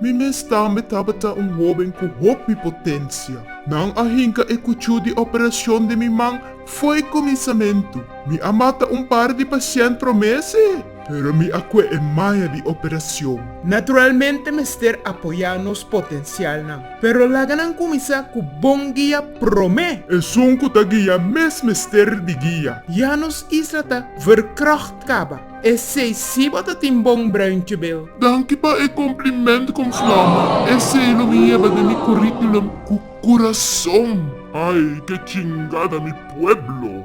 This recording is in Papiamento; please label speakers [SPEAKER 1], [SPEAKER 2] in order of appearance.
[SPEAKER 1] Mi mes tambe tabata un hóben ku hopi potensia. Nan a hinka e kuchú di operashon den mi man fo'i kuminsamentu. Mi a mata un par di pasiènt promés e, pero mi a kue e maña di operashon. Naturalmente
[SPEAKER 2] mester apoyá nos potensialnan, pero laga nan kuminsá ku bon guia promé. Esun ku ta
[SPEAKER 1] guia mes mester di guia. Ya nos isla
[SPEAKER 2] ta verkràcht kaba. Esei si bo ta tin bon bruintje bel. Danki pa e
[SPEAKER 3] compliment con flama. Esei lo mi yeba den mi curriculum cu curason. Ay ke chingada mi pueblo.